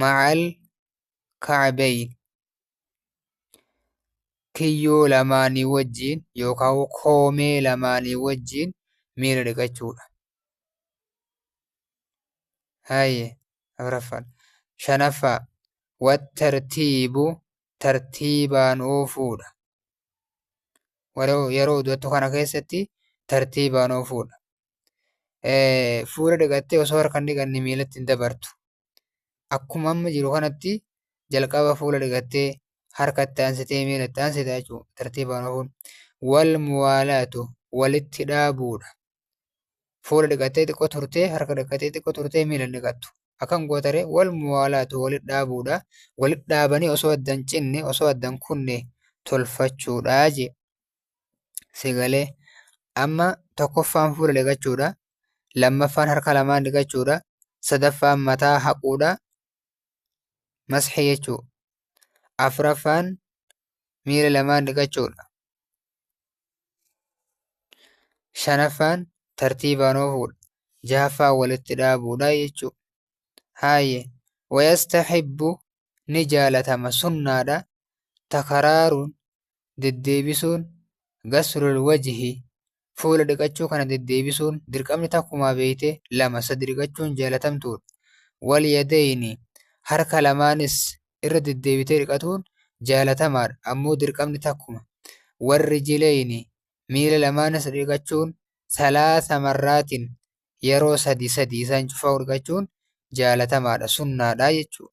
ma'al ka'abayn kiyyoo lamaanii wajjiin yookaan koomee lamaanii wajjiin miila dhiqachuudha. Haye afraffaan shanaffaa wattartiibu tartiibaan oofuudha. Yeroo udu'attu kana keessatti tartiibaan oofuudha. fuula dhiqattee osoo harka hin dhiqanne miilatti hin dabartu. Akkuma amma jiru kanatti jalqaba fuula dhiqattee harka itti aansitee miila itti aansita jechuudha. Tartiibaan ofuun. Wal muwaalaatu walitti dhaabuudha. Fuula dhiqattee xiqqoo turtee harka dhiqattee xiqqoo turtee miila hin dhiqattu. Akkan gootare wal muwaalaatu walitti dhaabuudha. Walitti dhaabanii osoo addan cinne osoo addan kunne tolfachuudha jee. si galee amma tokkoffaan fuula dhiqachuudha lammaffaan harka lamaan dhiqachuudha sadaffaan mataa haquudha masxi jechuu afraffaan miila lamaan dhiqachuudha shanaffaan tartiibaan oofuudha jahaffaan walitti dhaabuudha jechuu haayye wayastaxibbu ni jaalatama sunnaadha takaraaruun deddeebisuun, ghaslul wajhi, fuula dhiqachuu kana deddeebisuun, dirqamni takkumaa beeyte lama sadi dhiqachuun jaalatamtuudha. Wal yadayni, harka lamaanis irra deddeebitee dhiqatuun jaalatamaadha, ammoo dirqamni takkuma. Wal rijilayni, miila lamaanis dhiqachuun salaasa marraatin, yeroo sadi sadi isaan cufaa'u dhiqachuun jaalatamaadha, sunnaadha jechuudha.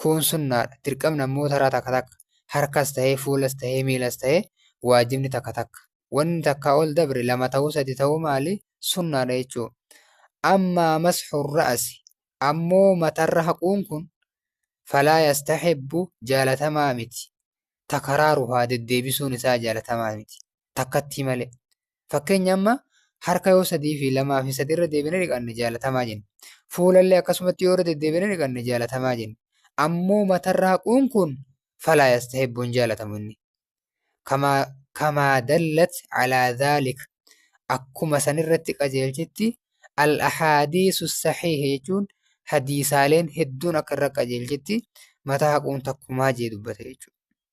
Kun sunnaadha. Dirqamni ammoo taraa takka takka. Harkas tahee, fuulas tahee, miilas tahee waajibni takka takka. Wanni takkaa ol dabre lama tahuu sadi tahuu maali? Sunnaadha jechuu. Ammaa masxu ra'asi. Ammoo matarra haquun kun falaa yastahibbu jaalatamaa miti. Takaraaruhaa deddeebisuun isaa jaalatamaa miti. Takkattii malee. Fakkeenya amma harka yoo sadii fi lamaa fi sadii irra deebinee dhiqanne jaalatamaa jenna. Fuulallee akkasumatti yoo irra deddeebinee dhiqanne jaalatamaa jenna. Ammoo matarra haquun kun falaa yastahibu hin jaalatamu inni. Kamaa kamaa dallat alaa dhaalik akkuma sanirratti qajeelchitti al-ahaadiisu sahiihi jechuun hadiisaaleen hedduun akka irra qajeelchitti mataa haquun takkumaa jee dubbate jechuudha.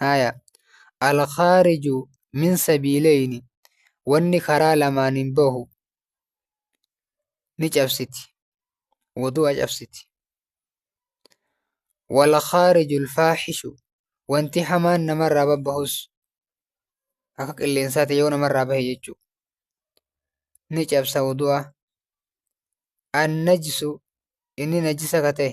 Haaya. Al-khaariju min sabiileyni wanni karaa lamaaniin bahu ni cabsiti. Wudu'a cabsiti. Wal-khaariju al-faaxishu wanti hamaan namarraa babbahus akka qilleensaati yoo namarraa bahe jechuudha. Ni cabsa wudu'a. An-najsu inni najisa ka ta'e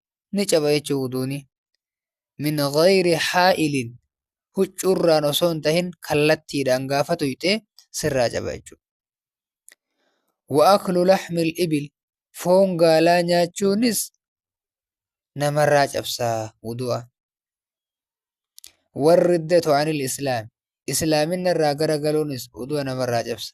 ni caba jechuu wuduuni min ghayri haa'ilin huccuurraan osoo hin tahin kallattiidhaan gaafa tuyxee sirraa caba jechuudha. Wa'aklu laxmil ibil foon gaalaa nyaachuunis namarraa cabsaa wudu'a. Warri datu anil islaam islaaminna irraa gara galuunis wudu'a namarraa cabsa.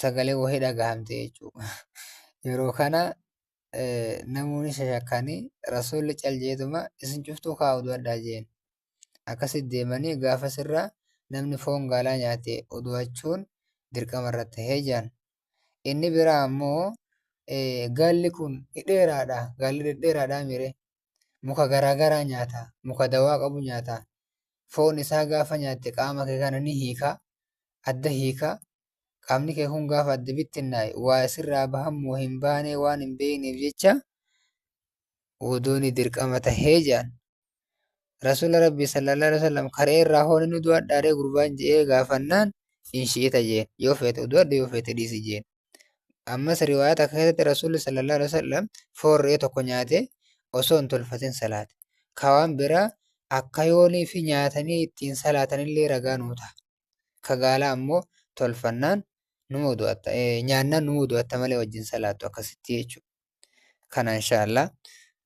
sagalee wahii dhagahamte jechuudha. Yeroo kana namoonni shashakkanii rasuulli cal jeetuma isin cuftuu kaa'u du'adhaa jeen. Akkasi deemanii gaafa sirraa namni foon gaalaa nyaate udu'achuun dirqama irra tahee jaan. Inni biraa ammoo gaalli kun dhedheeraadha. Gaalli dhedheeraadha mire. Muka garaa garaa nyaata. Muka dawaa qabu nyaata. Foon isaa gaafa nyaatte qaama kee kana ni hiika. Adda hiika. Qaamni kee kun gaafa adda bittinnaa'e waa isirraa bahammoo hin baanee waan hin beekneef jecha wuduuni dirqama tahee jedhan. Rasuula Rabbii sallallahu alaihi wasallam karee irraa hoo ni du'adhaaree gurbaan je'ee gaafannaan hin shi'ita jeen. Yoo feete du'adhu yoo feete dhiisi jeen. Ammas riwaayaa takka keessatti Rasuulli sallallahu alaihi wasallam foon re'ee tokko nyaatee osoo hin tolfatin salaate. Ka waan biraa akka yoonii fi nyaatanii ittiin salaatanillee ragaa nuu ta'a. Ka gaalaa ammoo tolfannaan numa udu'atta nyaannaan numa udu'atta malee wajjin salaattu akkasitti jechuudha. Kana inshaallah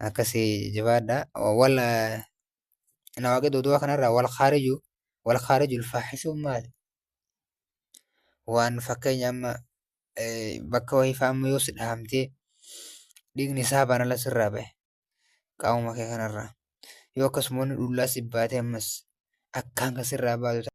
akkasii jabaadha. Wal nawaaqid udu'a kanarraa wal khaariju wal khaariju ulfaaxisuun maali? waan fakkeenya amma bakka wayii fa'aa amma yoo si dhahamtee dhiigni isaa banala sirraa bahe qaamuma kee kanarraa yoo akkasuma inni dhullaa si baatee ammas akkaan kan sirraa baatu ta'a.